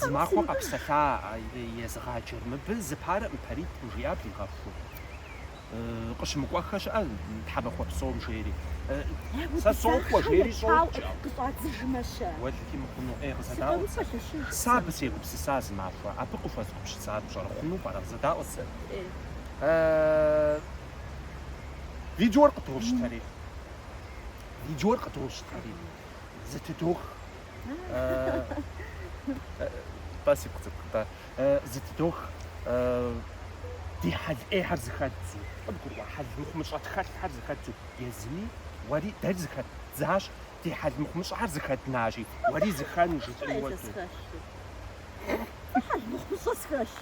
Зы махуэ къэпсэлъа езыгъаджэр мыбы зы парэ паритӏ, жиӏа, дигъэхуу. Къыщымыкӏуэххэ щыӏэ тхьэмахуэ псом жери. Сэ сокӏуэ жери щӏокӏ. Къыщӏадзыжмэ-щэ? Уэлэхьи мыхъуну, ӏей къызэдаӏуэт сэ. Сэ абы сегупсыса зы махуэ. Абы къыхуэзгупсысар пщӏэрэ, хъуну пӏэрэ, къызэдаӏуэт сэ. Видеор къыдощтэри. Видеор къыдощтэри. Зытыдох. Спасибо, цӏыкӏу, да. Зытыдох ди хьэл ӏейхэр зыхэддзу, къыбгурыӏуа хьэл мыхъумыщӏэ тхэлъхэр зыхэддзу езыми, уэри дэри зыхэддзащ, ди хьэл мыхъумыщӏэхэр зыхэднащи, уэри зыхэну жыфӏи уэ дуней. Хьэл мыхъумыщӏэ схэлъ.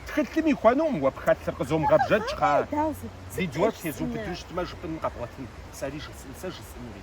Тхылъым ихуэнукъым уэ пхэлъыр, къызомыгъэбжэкӏ, тхьэ. Дауэ сыт? Видеор тезубыдэу щытмэ, жыпӏэн къэбгъуэтынт, сэри жысӏэн, сэ жысӏэнури.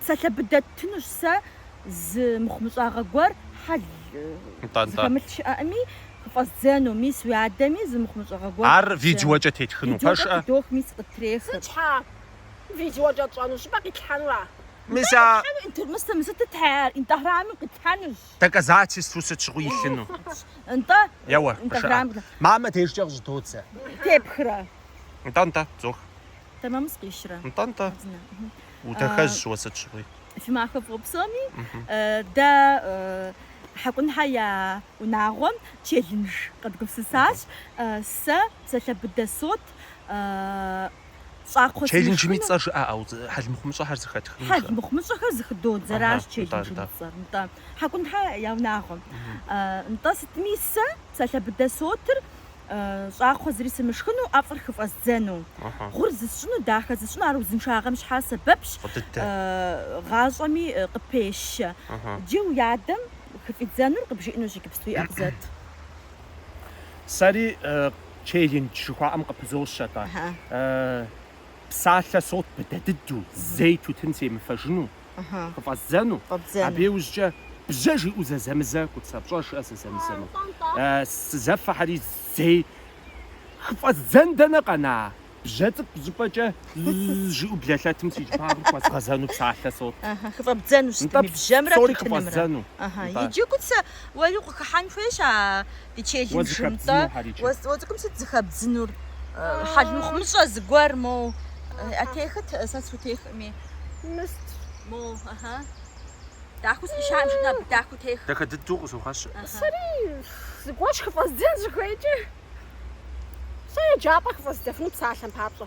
Псалъэ быдэ ттынущ сэ зы мыхъумыщӏагъэ гуэр хьэл зыхэмылъ щыӏэӏыми, хыфӏэздзэну, мис уи адэми зы мыхъумыщӏагъэ гуэр Ар видеокӏэ тетхыну пэшӏэ? Видеокӏэ тыдох, мис къыттрехы. Сыт щхьа видеокӏэ тщӏэну, щӏыпӏэ къитлъхьэнура? Мис а. Къитлъхьэну интермыстэ мы сытыт хьэр, инстаграмым къитлъхьэнущ. Доказательствэу сыт щыгъуи илъыну. Нтӏэ. Еуэ, къыжыӏэ. Мамэ дежкӏэ къыщӏыдодзэ. Тепхрэ. Нтӏэ, нтӏэ, тызох. Тэмэму сыкъищрэ? Нтӏэ-нтӏэ. Удэхэжь уэ сыт щыгъуи. Фи махуэ фӏыуэ псоми. Дэ Хьэкӏунхьэ я унагъуэм челлендж къэдгупсысащ. Сэ псалъэ быдэ сот. Щӏакхъуэ Челленджым и цӏэр жыӏэ, ӏэу, хьэлмыхъумыщӏэхэр зыхэтхыну. Хьэлмыхъумыщӏэхэр зыхыдодзэращ челленджым и цӏэр. Нтӏэ. Хьэкӏунхьэ я унагъуэм. Нтӏэ, сытми сэ псалъэ быдэ сотыр щӏакхъуэ зыри сымышхыну, ӏэфӏыр хыфӏэздзэну. Гъур зысщӏыну, дахэ зысщӏыну, ар узыншагъэм щхьэ сэбэпщ, гъащӏэми къыпещэ. Иджы уи адэм хыфӏидзэнур къыбжиӏэнущ иджыпсту. Иӏэ, къызэт. Сэри челлендж жыхуаӏэм къыпызощэ-тӏэ. Псалъэ сот быдэ дыдэу, зэи тутын семыфэжыну. хыфӏэздзэну, абы иужькӏэ бжьэ жиӏэу зэзэмызэ Куцэ, пщӏэрэ, щыӏэ зэзэмызэну. Сызэфэхьэри зэи хыфӏэздзэн дэнэ къэна бжьэ цӏыкӏу щӏыпӏэкӏэ жиӏэу блэлъэтым си щӏыбагъыр хуэзгъэзэну псалъэ сот. Хыфӏэбдзэну сытми бжьэмрэ тутынымрэ. Иджы Куцэ уэри укъыхыхьэн хуейщ а ди челленджым-тӏэ. Уэ цӏыкӏум сыт зыхэбдзынур? Хьэл мыхъумыщӏэ зыгуэр моу. А техыт? Сэ схутехми. Мыст. Моу, ыхьы. Дахэу сӏищаӏым щытмэ, абы дахэу тех. Дахэ дыдэу къыщохъэщы. Сэри зыгуэр хыфӏэздзэн щыхуейкӏэ. Сэ еджапӏэ хыфӏэздзэфыну псалъэм папщӏэ.